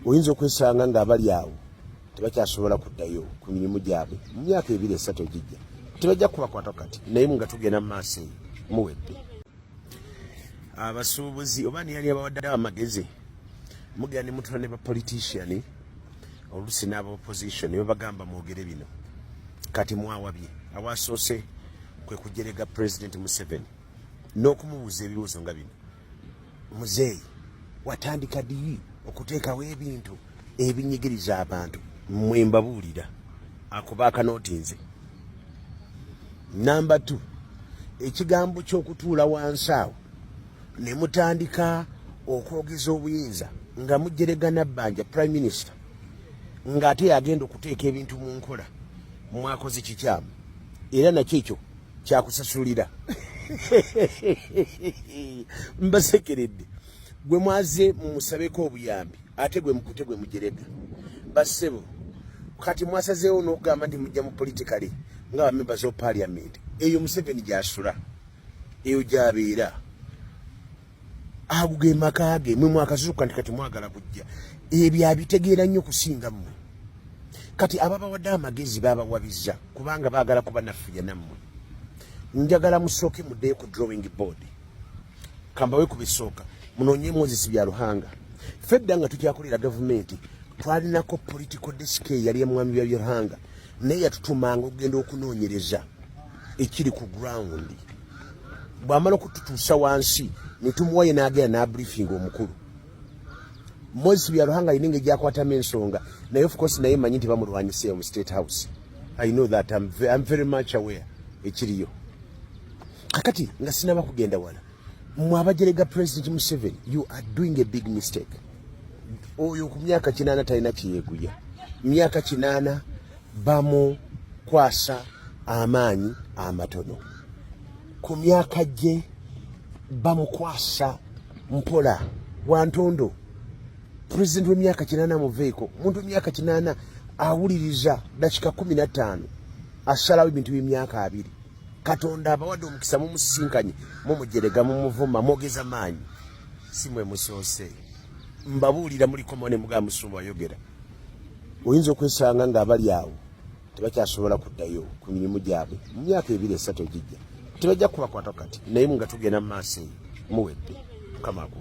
oyinza okwesanga ng'abali awo tebakyasobola kuddayo ku mirimu gyabwe mu myaka ebiri esatu egijja tebajja kubakwata kati naye nga tugenda mu maaso eyo muwedde abasuubuzi oba niyali abawadde amagezi mugenda ne mutula ne bapoliticiani oluusi n'aba opposition ne babagamba mwogere bino kati mwawabye awasoose kwe kujerega pulezidenti museveni n'okumubuuza ebibuuzo nga bino muzeeyi watandika diyi okuteekawo ebintu ebinyigiriza abantu mwe mbabuulira akuba akanoti nze namba t ekigambo ky'okutuula wansi awo ne mutandika okwogeza obuyinza nga mujeregana bbanja prime minister ng'ate yagenda okuteeka ebintu mu nkola mwakoze kikyamu era nakyo ekyo kyakusasulira mbasekeredde gwe mwaze mumusabeko obuyambi ate gwe mukute gwe mujerega basebo kati mwasazeewo n'okugamba nti mujja mu politikale nga bamemba zo parliament eyo museveni gyasula eyo gyabeera ago ge maka ge mwe mwakazuuka nti kati mwagala kujja ebyo abitegeera nnyo kusinga mmwe kati ababawadde amagezi babawabiza kubanga baagala kuba naffuya nammwe njagala musooke muddeyo ku drawing board kambawe ku bisooka munoonye moses bya luhanga ffe dda nga tukyakulira gavumenti twalinako political disk eyali emwami bya byoluhanga naye yatutumanga okugenda okunoonyereza ekiri ku ground bwamala okututuusa wansi netumuwaye nagenda nabriefinga omukulu moses byaruhanga alina engeri gyakwatamu ensonga naye ofcourse naye manyi nti bamulwanyiseeyo mu state house i know that I'm, I'm very much aware ekiriyo kakati nga sinaba kugenda wala mwe abajerega president museveni you are doing a big mistake oyo ku myaka kinaana talina kyeyeguya myaka kinaana bamukwasa amaanyi amatono ku myaka gye bamukwasa mpola wantondo president wemyaka kinaana muveeko muntu myaka kinaana awuliriza dakika kumi na ttaano asalawo ebintu byemyaka abiri katonda abawadde omukisa mumusisinkanye mumujerega mumuvuma mwogeza maanyi si mwe musoose mbabuulira mulikomo ne mugaa musumba wayogera oyinza okwesanga nga abali awo tebakyasobola kuddayo ku mirimu gyabwe mu myaka ebiri esatu egijja tebajja kubakwata kati naye nga tugenda mu maaso eyo muwedde mukama akuwa